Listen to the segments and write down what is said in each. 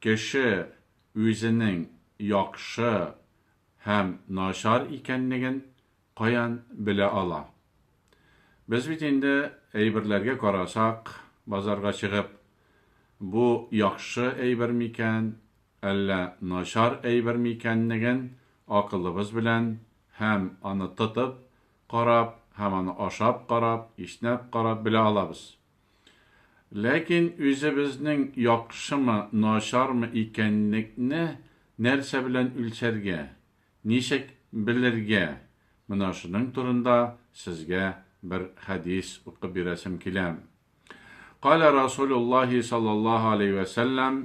Кеше үзенең яхшы һәм начар икәнлеген каян белә ала? Без бит инде, әйберләргә карасак, базарга чыгып, бу яхшы әйбер микән, әллә начар әйбер микәнлеген акылыбыз белән һәм аны тотып карап һәм аны ашап карап, иснәп карап белә алабыз. Ләкин үзебезнең яхшымы, начармы икәнлекне нәрсә белән үлчәргә, ничек белергә? Менә шуның турында сезгә бер хәдис укып бирәсем килә. Калә Расулуллаһи саллаллаһу алейһи вә сәлләм,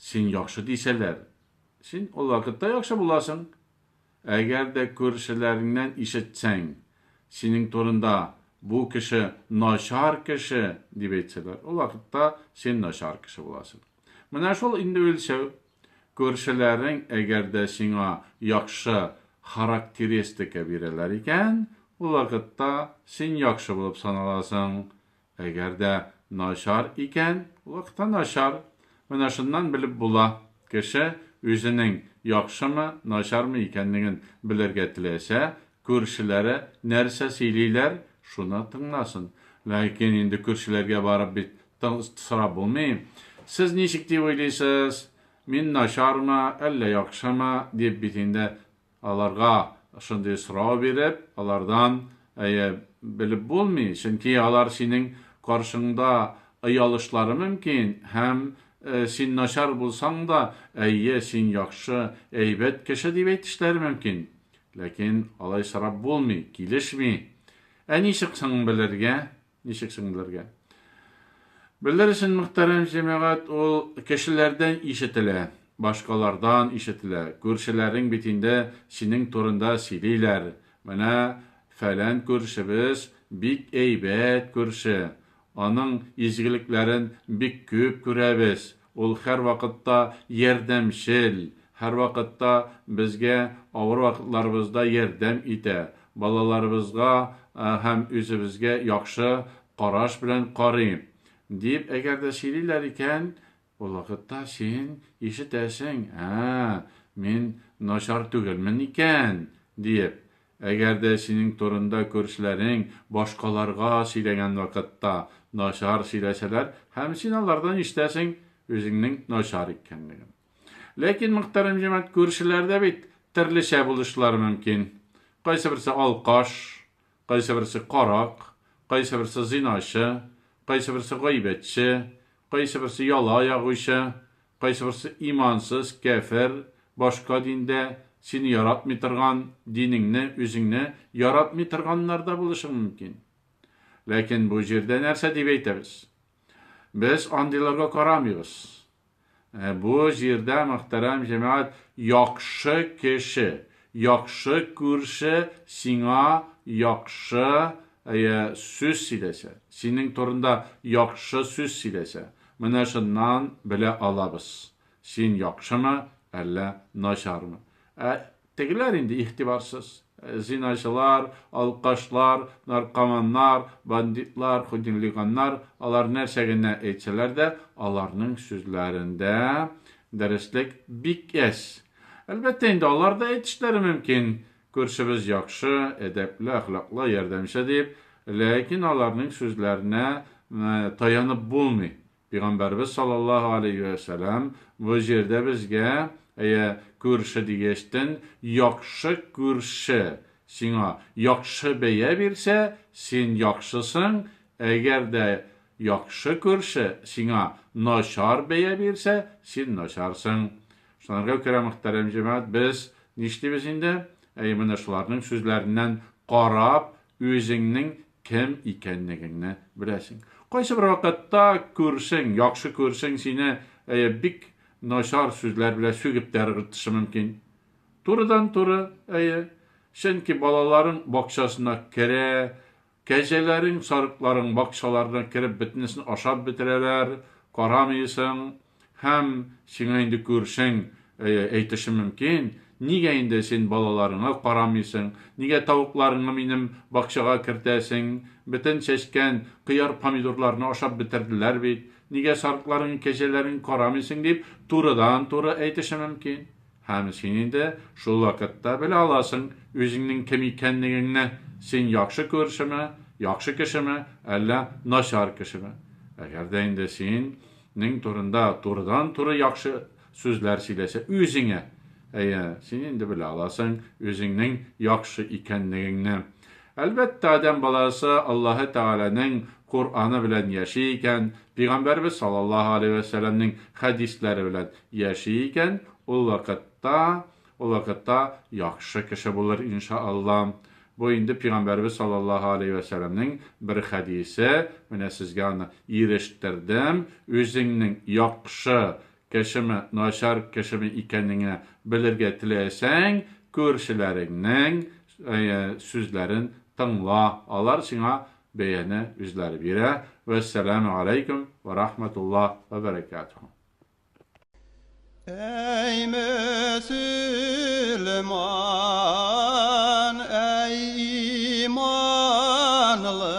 Син яхшы дисәләр, син ул вакытта яхшы буласың. Әгәр дә күршеләреңнән ишетсәң, синең турында, Бу кеше начар кеше, дип әйтсәләр, ул вакытта син начар кеше буласың. Менә шул инде үлчәү. Күршеләрең әгәр дә сиңа яхшы характеристика бирәләр икән, ул вакытта син яхшы булып саналасың. Әгәр дә начар икән, вак та начар. Менә шуннан белеп була, кеше үзенең яхшымы, начармы икәнлеген белергә теләсә, күршеләре нәрсә сөйлиләр, шуны тыңласын. Ләкин инде күршеләргә барып бит сорап булмый. Сез ничек дип уйлыйсыз, мин начармы, әллә яхшымы, дип бит инде Аларга шундый сорау биреп, алардан, әйе, белеп булмый, чөнки алар синең каршыңда оялышлары мөмкин һәм син начар булсаң да, әйе, син яхшы, әйбәт кеше дип әйтешләре мөмкин. Ләкин алай сорап булмый, килешми. Ә ничек соң белергә? Ничек соң белергә? Белер өчен, мөхтәрәм җәмәгать, ул кешеләрдән ишетелә, башкалардан ишетелә. Күршеләрең бит инде синең турында сөйлиләр, Менә фәлән күршебез бик әйбәт күрше, аның изгелекләрен бик күп күрәбез, Ул һәрвакытта ярдәмчел, һәрвакытта безгә авыр вакытларыбызда ярдәм итә, балаларыбызга һәм үзебезгә яхшы караш белән карый, дип әгәр дә сөйлиләр икән, ул вакытта син ишетәсең, ә, мин начар түгелмен икән, диеп, Әгәр дә синең турында күршеләрең башкаларга сөйләгән вакытта начар сөйләсәләр һәм син алардан ишетәсең үзеңнең начар икәнлеген. Ләкин, мөхтәрәм җәмәгать, күршеләрдә бит төрлечә булышлары мөмкин. Кайсыберсе алкаш, кайсыберсе карак, кайсыберсе зиначы, кайсыберсе гайбәтче, кайсыберсе яла ягучы, Кайсыберсе имансыз, кяфер, башка диндә, сине яратмый торган, динеңне, үзеңне яратмый торганнар да булышың мөмкин. Ләкин бу җирдә нәрсә дип әйтәбез? Без андыйларга карамыйбыз. Ә бу җирдә, мөхтәрәм җәмәгать, яхшы кеше, яхшы күрше сиңа яхшы, әйе, сүз сөйләсә, синең турында яхшы сүз сөйләсә, Менә шуннан белә алабыз, син яхшымы, әллә начармы. Ә тегеләр инде игътибарсыз. Зиначылар, алкашлар, наркоманнар, бандитлар, худинлиганнар, алар нәрсә генә әйтсәләр дә, аларның сүзләрендә дөреслек бик әз. Әлбәттә инде, алар да әйтешләре мөмкин, Күршебез яхшы, әдәпле, әхлаклы, ярдәмче, дип, ләкин аларның сүзләренә таянып булмый. Пигамбәребез саллаллаһу галәйһи вә сәлам бу җирдә безгә, әйе, күрше дигәчтен, яхшы күрше сиңа яхшы бәя бирсә, син яхшысың, әгәр дә Яхшы күрше сиңа начар бәя бирсә, син начарсың. Шунарга күрә, мөхтәрәм җәмәгать, без нишлибез инде? Әйе, менә шуларның сүзләреннән карап, үзеңнең кем икәнлегеңне беләсең. Кайсы бер вакытта күршең, яхшы күршең сине, әйе, бик начар сүзләр белән сүгеп тә ыргытышы мөмкин. Турыдан-туры, әйе. Чөнки балаларың бакчасына керә, Кәҗәләрең, сарыкларың бакчаларына кереп бөтенесен ашап бетерәләр, карамыйсың, һәм сиңа инде күршең әйтеше мөмкин, Нигә инде син балаларыңа карамыйсың, нигә тавыкларыңны минем бакчага кертәсең, бөтен чәчкән кыяр-помидорларны ашап бетерделәр бит, нигә сарыкларың, кәҗәләрең карамыйсың, дип турыдан-туры әйтеше мөмкин. Һәм син инде шул вакытта белә аласың үзеңнең кем икәнлегеңне, син яхшы күршеме, яхшы кешеме, әллә начар кешеме. Әгәр дә инде син нең турында турыдан-туры яхшы сүзләр сөйләсә үзеңә, әйе, син инде белә аласың үзеңнең яхшы икәнлегеңне. Әлбәттә, адәм баласы Аллаһы Тәгаләнең Коръәне белән яши икән, Пигамбәребез саллаллаһу галәйһи вә сәлләмнең хәдисләре белән яши икән, ул вакытта, ул вакытта яхшы кеше булыр, иншаАлла. Бу инде Пигамбәребез саллаллаһу галәйһи вә сәлләмнең бер хәдисе, менә сезгә аны ирештердем, үзеңнең яхшы Кешеме, начар кешеме икәнеңә белергә теләсәң, күршеләреңнең сүзләрен тыңла, алар сиңа бәяне үзләре бирә. Вәссәламү аләйкүм вә рахмәтуллаһ вә бәрәкәтүһү. Әй мөселман, әй иманлы!